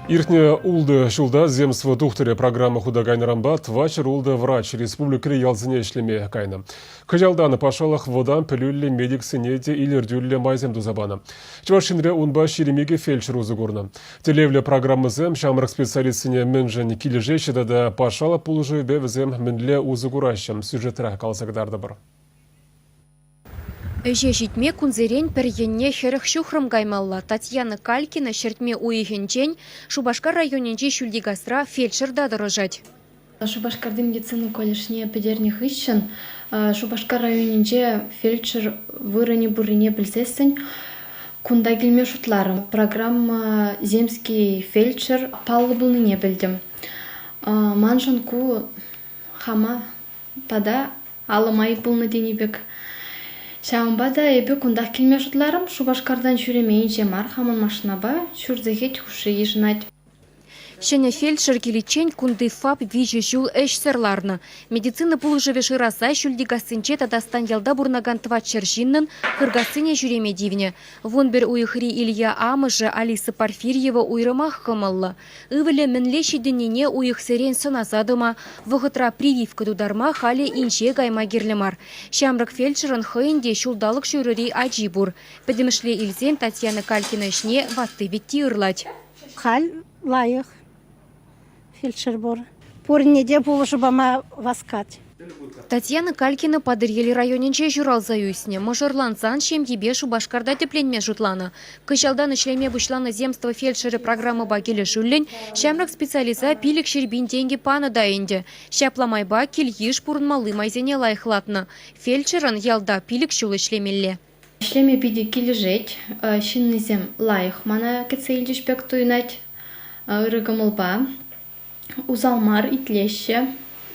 Иртнӗ ултӑ ҫулта «Земство тухтӑрӗ» программа хута кайнӑранпа тӑватҫӗр-ултӑ врач республикӑри ялсене ӗҫлеме кайнӑ. Кӑҫалтан патшалӑх вӑтам пӗлӳллӗ медиксене те илӗртӳллӗ майсем туса панӑ. Чӑваш Енре унпа ҫирӗм икӗ фельдшер усӑ курнӑ. Тӗллевлӗ программӑсем ҫамрӑк специалистсене мӗншӗн килӗшеҫҫӗ тата патшалӑх пулӑшӑвӗпе вӗсем мӗнле усӑ кураҫҫӗ сюжетра каласа кӑтартӑпӑр. Ӗҫе ҫитме кунсерен пӗр енне хӗрӗх ҫухрӑм каймалла. Татьяна Калькина ҫӗртме уйӑхӗнчен Шупашкар районӗнчи Ҫӳлтикасра фельдшерта тӑрӑшать. Шупашкарти медицина колледжне пӗтернӗ хыҫҫӑн Шупашкар районӗнче фельдшер вырӑнӗ пуррине пӗлсессӗн кунта килме шутларӑм. Программа «Земский фельдшер» паллӑ пулнине пӗлтӗм. Маншӑн ку хама тата алӑм айӑп пулнӑ тени пек. Ҫавӑнпа та эпӗ кунтах килме шутларӑм. Шупашкартан ҫӳремейӗнче мар хамӑн машинапа ҫур сехет хушши йышӑнать. Ҫӗнӗ фельдшер киличчен кунти ФАП виҫӗ ҫул ӗҫсӗр ларнӑ. Медицина пулӑшӑвӗ шыраса Ҫӳлтикассинче тата Станьялта пурӑнакан тӑват ҫӗр ҫыннӑн Хыркассине ҫӳреме тивнӗ. Вун пӗр уйӑхри Илья амӑшӗ Алиса Порфирьева уйрӑмах кӑмӑллӑ. Ывӑлӗ мӗнле ҫитӗннине уйӑхсерен сӑнаса тӑма, вӑхӑтра прививка тутарма халӗ инҫе кайма кирлӗ мар. Ҫамрӑк фельдшерӑн хӑйӗн те ҫулталӑк ҫурӑри ачи пур. Пӗтӗмӗшле илсен Татьяна Калькина ӗҫне ватти-вӗтти ырлать. Халь лайӑх фельдшер пур. Пурне те пулӑшу пама васкать. Татьяна Калькина Патӑрьел районӗнче ҫуралса ӳснӗ. Мӑшӑрлансан ҫемйипе Шупашкарта тӗпленме шутланӑ. Кӑҫалтан ӗҫлеме пуҫланӑ земство фельдшерӗ программӑпа килӗшӳллӗн ҫамрӑк специалиста пилӗк ҫирпин тенкӗ панӑ та ӗнтӗ. Ҫапла майпа кил-йыш пурӑнмалли майсене лайӑхлатнӑ. Фельдшерӑн ялта пилӗк ҫул ӗҫлемелле. Ӗҫлеме питӗ килӗшет. Ҫыннисем лайӑх мана кӗтсе илчӗҫ пек туйӑнать ырӑ кӑмӑлпа. усал мар итлеҫҫӗ,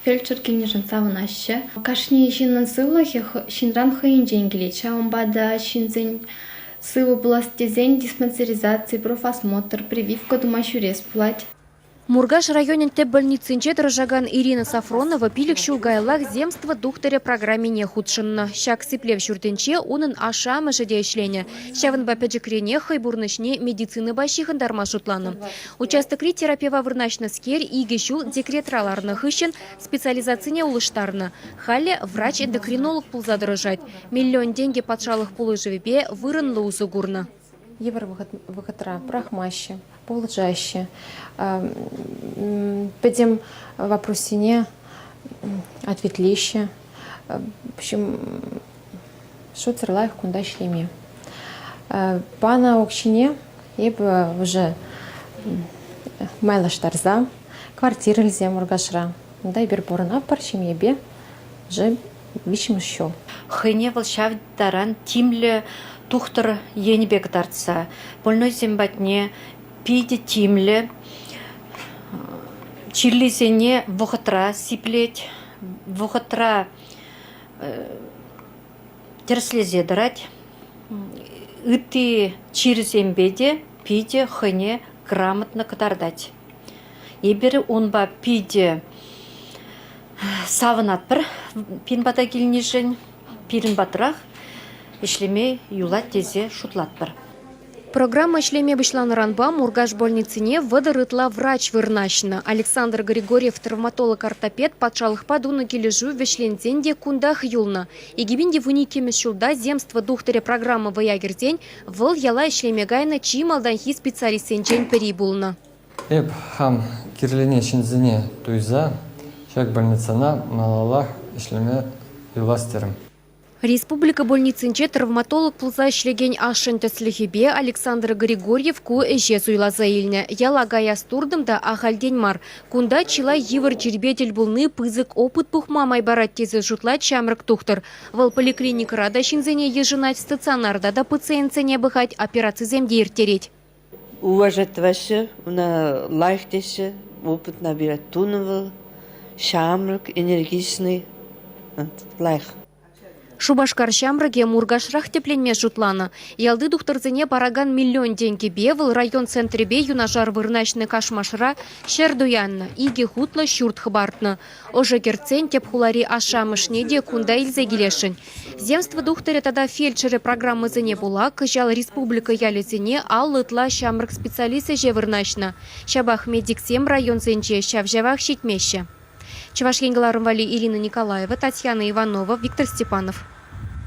фельдшер килнишӗн савӑнаҫҫӗ. Кашни ҫыннӑн сывлӑхӗ ҫынран хӑйӗнчен килет. Ҫавӑнпа та ҫынсен сывӑ пулас тесен диспансеризаци, профосмотр, прививка тума ҫӳрес пулать. Муркаш районӗн тӗп больницинче тӑрӑшакан Ирина Сафронова пилӗк ҫул каяллах Земство тухтӑрӗ программине хутшӑннӑ. Ҫак сиплев ҫуртӗнче унӑн ашшӗ-амӑшӗ те ӗҫленӗ. Ҫавӑнпа пӗчӗкренех хӑй пурнӑҫне медицинӑпа ҫыхӑнтарма шутланӑ. Участокри терапева вырнаҫнӑскер икӗ ҫул декретра ларнӑ хыҫҫӑн специализацине улӑштарнӑ. Халӗ врач-эндокринолог пулса тӑрӑшать. Миллион тенкӗ патшалӑх пулӑшӑвӗпе вырӑнлӑ усӑ курнӑ. Йывӑр вӑхӑтра пӑрахмаҫҫӗ, пулӑшаҫҫӗ. Пӗтӗм вопроссене ответлеҫҫӗ. В общем, шутсӑр лайӑх кунта ӗҫлеме. Панӑ укҫине эпӗ уже майлаштарса квартира илсе Муркашра. Унта эпир пурӑнатпӑр ҫемьепе уже виҫҫӗмӗш ҫул. Хӑйне вӑл ҫав таран тимлӗ тухтӑр енӗпе кӑтартса больнойсем патне питӗ тимлӗ, чирлисене вӑхӑтра сиплет, вӑхӑтра тӗрӗслесе тӑрать. Ытти чирсемпе те питӗ хӑйне грамотно кӑтартать. Эпир унпа питӗ савӑнатпӑр пин пата килнишӗн. Пирӗн патрах ӗҫлеме юлать тесе шутлатпӑр. Программа ӗҫлеме пуҫланӑранпа Муркаш больницине вӑтӑр ытла врач вырнаҫнӑ. Александр Григорьев травматолог-ортопед патшалӑхпа тунӑ килӗшӳ вӗҫленсен те кунтах юлнӑ. Иккӗмин иккӗмӗш ҫулта «Земство тухтӑрӗ» программа вӑя кӗрсен вӑл яла ӗҫлеме кайнӑ чи малтанхи специалистсенчен пӗри пулнӑ. Эп хам кирлене ҫынсене туйса ҫак больницӑна малаллах ӗҫлеме юлас терӗм. Республика больницинче травматолог пулса ӗҫлекен ашшӗн тӗслӗхӗпе Александр Григорьев ку ӗҫе суйласа илнӗ. Яла каяс туртӑм та ахальтен мар. Кунта чылай йывӑр чирпе тӗл пулни пысӑк опыт пухма май парать тесе шутлать ҫамрӑк тухтӑр. Вӑл поликлиникӑра та ҫынсене йышӑнать, стационарта та пациентсене пӑхать, операцисем те ирттерет. уважать-тӑваҫҫӗ, ӑна лайӑх теҫҫӗ, опытна пирӗн тунӑ вӑл, ҫамрӑк, энергичный, лайӑх. Шупашкар ҫамрӑкӗ Муркашрах тӗпленме шутланӑ. Ялти тухтӑрсене паракан миллион тенкӗпе вӑл район центрӗпе юнашар вырнаҫнӑ Кашмашра ҫӗр туяннӑ, икӗ хутлӑ ҫурт хӑпартнӑ. Ӑшӑ кӗртсен тӗп хулари ашшӗ-амӑшне те кунта илсе килесшӗн. Земство тухтӑрӗ тата фельдшерӗ программӑсене пула кӑҫал республика ялӗсене аллӑ ытла ҫамрӑк специалист ӗҫе вырнаҫнӑ. Ҫапах медиксем районсенче ҫав-ҫавах ҫитмеҫҫӗ. Чӑваш Ен кӑларӑм валли Ирина Николаева, Татьяна Иванова, Виктор Степанов.